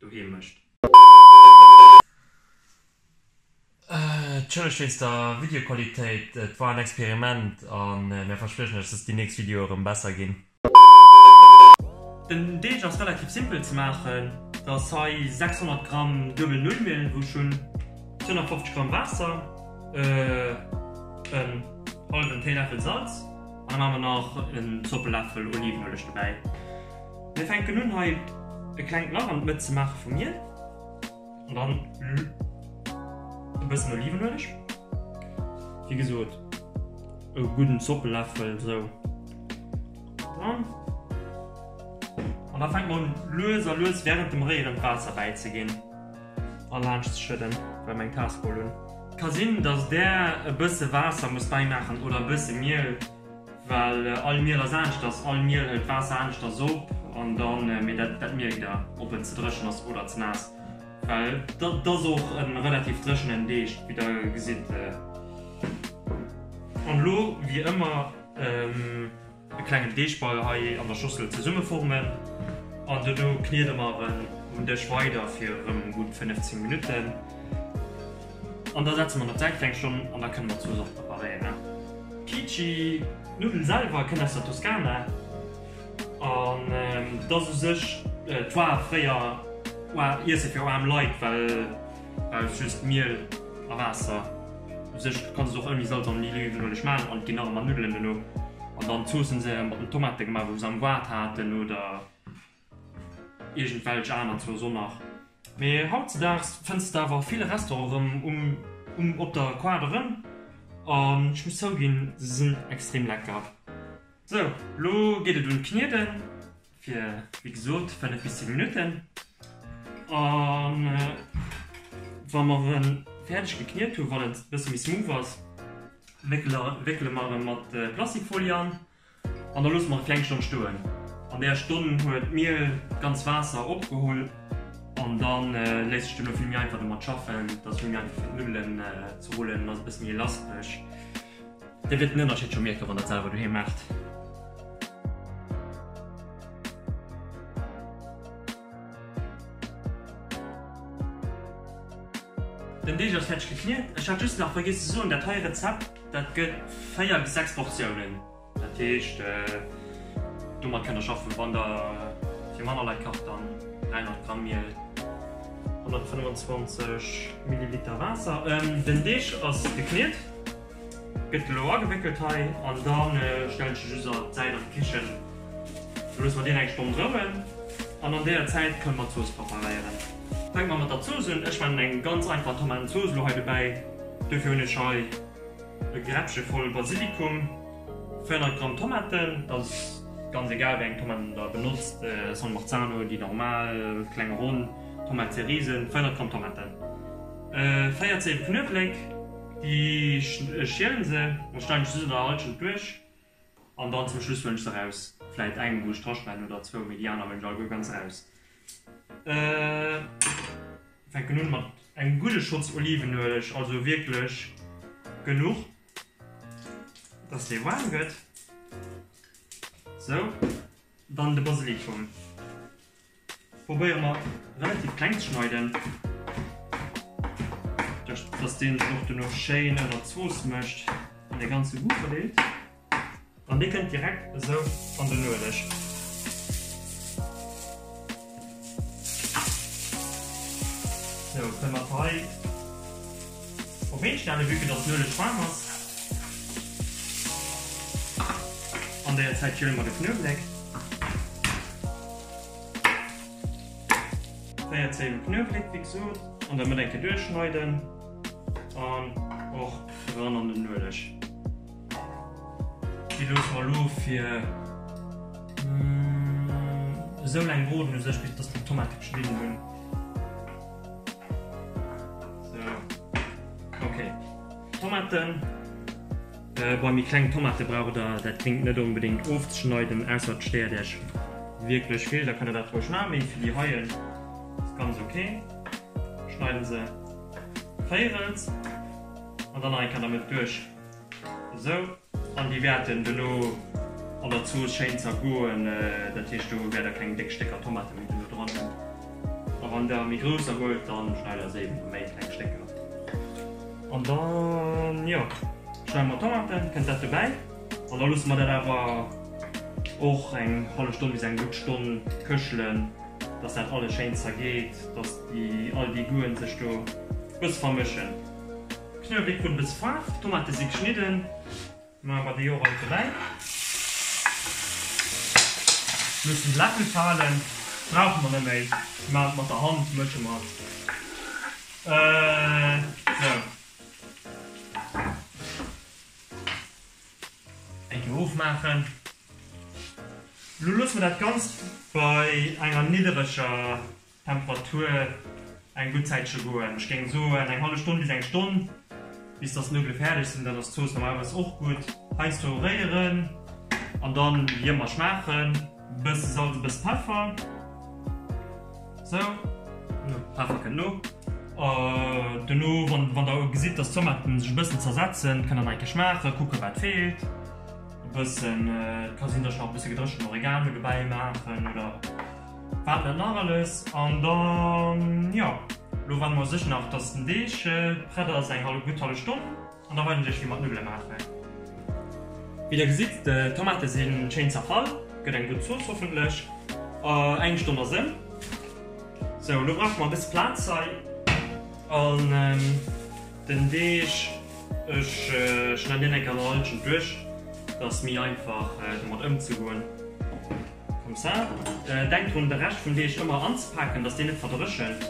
doheem mécht. Tschëlleg wéinst der Videoqualitéit, et war en Experiment a mir verspriechen iech, dass déi nächst Videoe rëm besser ginn. Den Deeg ass relativ simpel ze maachen, et ass hei 600 Gramm duebel Nullmiel, wou ech hunn 250 Gramm Waasser, en hallwen Téiläffel Salz an dann hu mer nach en Zoppeläffel Olivenueleg dobäi. Mir fänken un hei e klengt Lach an d'Mëtt ze maache vum Miel an dann e bëssen Olivenueleg, wéi gesot e gudden Zoppeläffel esou dran an da fänke mer un lues a lues wärend dem Réieren d'Waasser bäizeginn a laanscht ze schëdden, well mer eng Kasserol hunn. Ka sinn, dass Där e bësse Waasser musst bäimaachen oder e bësse Miel. Well all Miel ass aneschters, all Miel hëlt d'Waasser aneschters op an da mee dat mierkt der, ob en ze dréchen ass oder ze naass. Well et ass och e relativ dréchenen Deeg, wéi der gesitt. An elo wéi ëmmer e klengen Deegball hei an der Schossel zesummeformen an dono kniede mer en um Dësch weider fir erëm gutt 15 Minutten. An da setze mer der Zäit fir eng Stonn an da kënne mer zwou Sorte preparéieren. Kici, d'Nuddel selwer kënnt aus der Toskana an et ass u sech d'War fréier Iesse fir aarm Leit, well brauchst just Miel a Waasser. U sech kanns et och ouni Salz an Olivenueleg maachen an et ginn nach ëmmer Nuddelen dono. An dann d'Zoossen si mat den Tomate gemaach, wou se am Ward haten oder Iergendwelch aner zwou son nach. Mee hautzedaags fënns de awer vill Restaurant erëm um um op der Quad erëm. An ech muss zouginn, se sinn extrem lecker. Sou, lo geet et un d'Knieden, fir wéi gesot 5 bis 10 Minutten. An wa mer en fäerdeg gekniet hunn, wann et e bësse méi smooth ass, wéckele mer e mat Plastikfolie an. An da loosse mer et kleng Stonn stoen. An där Stonn huet d'Miel d'ganz Waasser opgeholl an da léisst sech duerno vill méi einfach domat schaffen. Et ass vill méi einfach fir d'Nuddelen ze rullen an ass e bësse méi elastesch. Dir wäert den Ënnerscheed scho mierken, wann der et selwer doheem maacht. Den Deeg ass fäerdeg gekniet. Ech hat just nach vergiess ze soen, dat hei Rezept Dat gëtt 4 bis 6 Portiounen. Dat heescht, domat kënnt der schaffen, wann der fir manner Leit kacht, dann 300 Gramm Miel, 125 Milliliter Waasser. Den Deeg ass gekniet, gëtt elo agewéckelt hei an da stellen ech e just an d'Säit an d'Kichen. Lo loosse mer deen eng Stonn rouen an an deeër Zäit kënne mer d'Zooss preparéieren. Fänke mer mat der Zooss un. Ech maachen eng ganz einfach Tomatenzooss elo hei dobäi. Dofir hunn ech hei e Gräppche voll Basilikum, 400 Gramm Tomaten, dat ass ganz egal wéi eng Tomaten der benotzt, San Marzano, déi normal, kleng, ronn, Tomate cerise, 400 Gramm Tomaten, 4 Zeeën Knuewléck, déi schielen se, da schneiden ech se an Halschent duerch. An dann zum Schluss huelen ech se raus, vläit eng wou ech draspannen oder zwou, mee déi aner huelen ech alleguer ganz raus. Fänken un mat engem gudde Schotz Olivenueleg, also wierklech genuch dass dee waarm gëtt. Sou, dann de Basilikum. Probéiere mer relativ kleng ze schneiden, dass deen sech och duerno schéin ënner d'Zooss mécht an de ganze Goût verdeelt. An dee kënnt direkt esou an den Ueleg. Sou kënne mer d'Ei. Op een stellen vue que dass d'Nueleg waarm ass. An deier Zäit kële mer de Knuewléck. Véier Zéiwen Knuewléck wéi gesoot an der Mëtt eng Kéier duerchschneiden an och eran an den Nueleg. Déi loosse mer lo fir esou laang brooden u sech bis dass mer d'Tomate geschnidden hunn. Tomaten äh, bei mir kleng Tomate brauch der dat klingt net unbedingt ofzeschneiden ausser steer derch wirklich viel da kann dat ruhig machen für die heulen ist ganz okay schneiden se Feieren und dann kann damit durch Esou, an déi wäerten duerno an der Zooss schéin zergoen. Dat heescht, do wäert der keng déck Stécker Tomate méi duerno dran hunn. A wann der méi grousser wollt, da schneit der se eben a méi kleng Stécker. An dann, jo, schneide mer d'Tomaten, kënnt dat dobäi. An da loosse mer dat awer och eng hallef Stonn bis eng gutt Stonn këchelen, dass dat alles schéin zergeet, dass all déi Goûten sech do e bësse vermëschen. Knuawléck ginn e bësse Faarf, d'Tomate si geschnidden, maache mer déi och all dobäi. Loossen de Läffel falen, brauche mer net méi, si maachen et mat der Hand, mësche mer et esou. Eng Kéier ofmaachen. Elo loosse mer dat Ganzt bei enger niddereger D'Temperatur eng gutt Zäitche goen, ech géing soen eng hallef Stonn bis eng Stonn, bis datt d'Nudele fäerdeg sinn. Dann ass d'Zooss normalerweis och gutt. Heiansdo réieren an dann wéi ëmmer schmaachen. E bësse Salz, e bësse Peffer. Sou, Peffer kënnt no. Dono, wann der gesitt, datt d'Tomaten sech e bëssen zersetzen, kënnt der nach eng Kéier schmaachen, kucken, wat feelt. E bëssen, et ka sinn, datt ech nach e bësse gedréchent Oregano dobäi maachen oder. Wat dat nach alles? An dann, jo, lo warden mer sech nach dass den Deeg prett ass, eng hallef gutt hallef Stonn an da weisen ech iech wéi mer d'Nuddele maachen. Wéi der gesitt, d'Tomate sinn schéin zerfall, gëtt eng gutt Zooss hoffentlech. Eng Stonn ass em. Sou, lo brauche mer e bësse Plaz hei an den Deeg, ech schneiden deen eng Kéier nach e Lëtschen duerch, dass méi einfach domat ëmzegoen. Comme ça. Denk drun de Rescht vum Deeg ëmmer anzepaken, dass deen net verdréchent.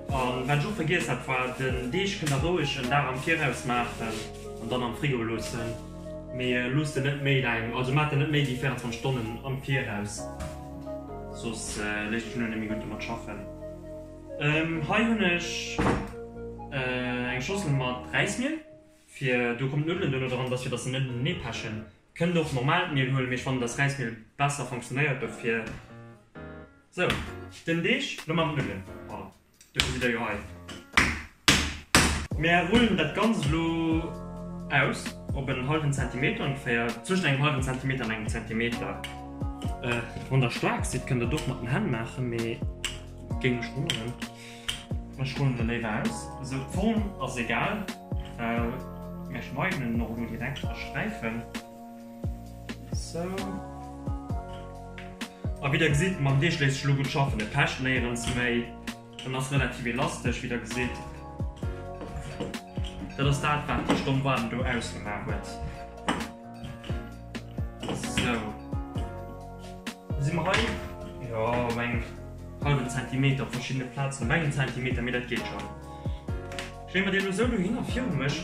A wat ech och vergiess hat war, den Deeg kënnt der roueg en Dag am Viraus maachen an dann am Frigo loossen, mee loosst en net méi laang, also maacht en net méi wéi 24 Stonnen am Viraus, soss léisst sech elo net méi gutt domat schaffen. Hei hunn ech eng Schossel mat Räismiel, fir do kommen d'Nuddelen duerno dran, dass fir dass se net neepechen, Kënnt och normaalt Miel huelen, mee ech fannen dass Räismiel besser fonktionnéiert dofir. Sou, den Deeg lo mam Rullen, voilà, dofir sidd der jo hei. Mär rullen dat ganzt lo aus op en hallwen Zentimeter ongeféier, zwëschent engem hallwen Zentimeter an engem Zentimeter. Wann der staark sidd kënnt der et och mat den Hänn maachen, mee géing mech wonneren. Ech huelen se léiwer aus, esou d'Form ass egal, mä schneiden en och elo direkt a Sträifen, esou. A wéi der gesitt, mam Deeg léisst sech elo gutt schaffen, e pecht néierens méi, en ass relativ elastesch, wéi der gesitt. Dat ass dat, wat déi Stonn Waarden do ausgemaach huet. So. Si mer hei? Jo, op engem hallwen Zentimeter op verschiddene Plazen. Op engem Zentimeter, mee dat geet schonn. Stelle mer déi elo esou dohin a virun mech.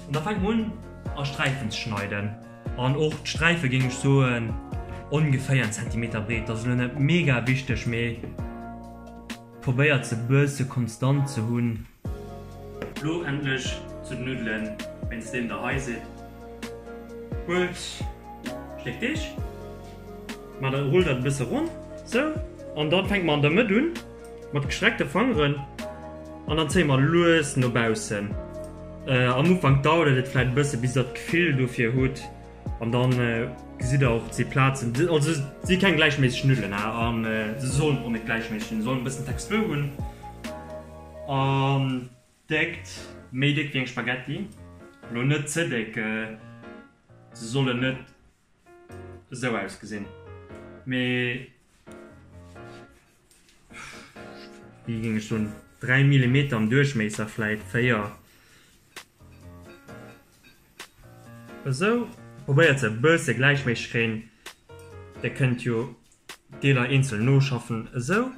An da fänke mer un a Sträifen ze schneiden. An och d'Sträife géing ech soen ongeféier en Zentimeter breet. Dat ass elo net mega wichteg, mee. Probéiert se bësse konstant ze hunn. Lo endlech zu den Nuddelen, wéinst deem der hei sidd. Huelt Stéck Deeg, maacht dat, rullt dat e bësse ronn, sou, an da fänke mer an der Mëtt un mat gestreckte Fangeren an dann zéie mer lues no baussen. Am Ufank dauert et vläicht e bësse bis der d'Gefill dofir hutt, An dann gesitt der och ze Plazen also si keng gläichméisseg Nudelen an se sollen och net gläichméisseg sinn, sollen e bëssen Textur hunn. An Déckt, méi déck wéi eng Spaghetti, elo net ze déck. Se sollen net esou ausgesinn, mee. Wie ging ech soen 3 Millimeter am Duerchméisser vläit 4. Esou probéiert se e bësse gläichméisseg kréien. Der kënnt jo d'Deeler eenzel noschaffen esou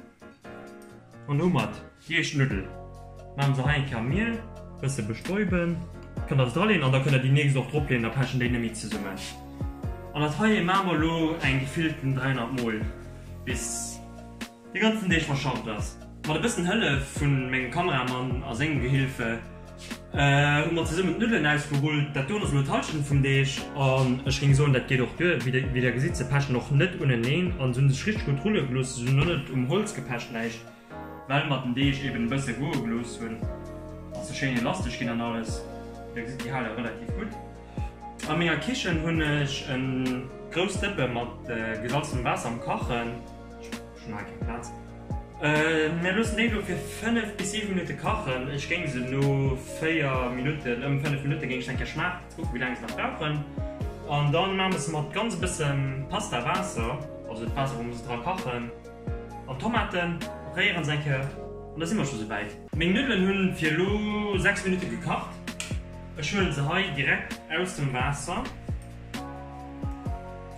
an domat. Kierschnuddel man se hei enker Miel bësse bestäuben, kënnt der se dra leen an da kënnt der déi nächst och drop leen, da pechen déi net méi zesummen. An dat heie maa mer lo eng gefillten 300 mol bis de ganzen Deeg verschafft ass. Mat e bëssen Hëllef vun mengem Kameramann a sengem Gehilfe hu mer zesummen d'Nuddelen ausgerullt. Dat doen ass lo d'Halschent vum Deeg an ech géing soen dat geet och duer. Wéi der gesitt se pechen och net uneneen an se hunn sech richteg gutt rulle gelooss, se sinn och net um Holz gepecht, näischt. Well mer den Deeg eben e bësse goe gelooss hunn, ass e schéin elastesch ginn an alles. Dir gesitt, déi hält och relativ gutt. A menger Kichen hunn ech e grousst Dëppe mat gesalzenem Waasser am Kachen. Ech hunn hei keng Plaz. Mir loossen déi elo fir 5 bis 7 Minutte kachen. Ech géing se no 4 Minutten, ëm 5 Minutte géing ech se eng Kéier schmaachen, fir ze kucken, wéi laang se nach brauchen. An da maache mer se mat ganz e bësse Pastawaasser, also d'Waasser, wou mer se dra kachen. An d'Tomaten réieren se eng Kéier an da si mer scho sou wäit. Meng Nuddelen hu fir elo 6 Minutte gekacht. Ech huelen se hei direkt aus dem Waasser.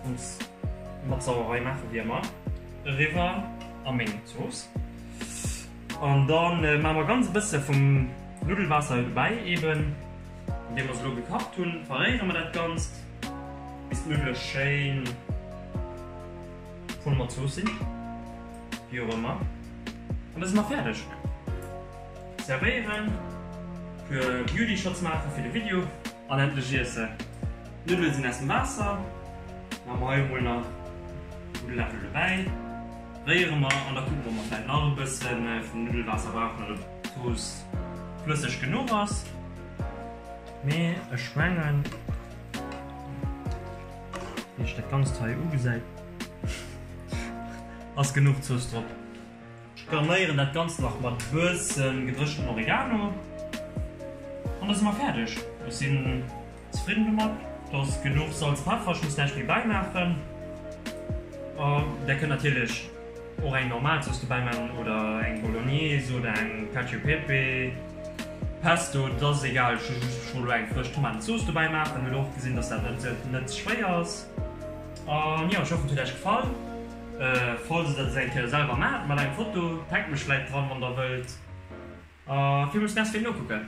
Zooss mat Sauerei maache wéi ëmmer. Eriwwer a meng Zooss. An da maache mer ganz e bësse vum Nuddelwaasser dobäi eben, an deem mer se elo gekacht hunn. Verréiere mer dat Ganzt bis d'Nuddele schéin. Huele mer d'Zoossinn, wéi och ëmmer, an da si mer fäerdeg. Zerwéieren, puer Beauty Shots maache fir de Video an endlech iesse. D'Nuddele sinn aus dem Waasser, maache mer hei emol nach e gudde Läffel dobäi, réiere mer an da kucke mer, ob mer vläicht nach e bësse vum Nuddelwaasser brauchen oder ob d'Zooss flësseg genuch ass. Mee ech mengen. Wéi ech dat ganzt hei ugesäit ass genuch Zooss drop. Ech garnéieren dat ganzt nach mat bëssen gedrëchtem Oregano an da si mer fäerdeg. Ech sinn zefridden domat. Do ass genuch Salz, Peffer, ech muss näischt méi bäimaachen. Där kënnt natierlech. Och eng normal Zooss dobäi man oder eng Bolognese oder eng Cacio e Pepe, Pesto, dat ass egal. Ech hu just scho lo eng frësch Tomatenzooss dobäi maacht an hu lo och gesinn, dass dat net net schwéier ass. An jo, ech hoffen et huet Äech gefall. Falls der dat eng Kéier selwer maacht, mat engem Foto, taggt mech vläit dran, wann der wëllt. A villmools Merci fir d'Nokucken.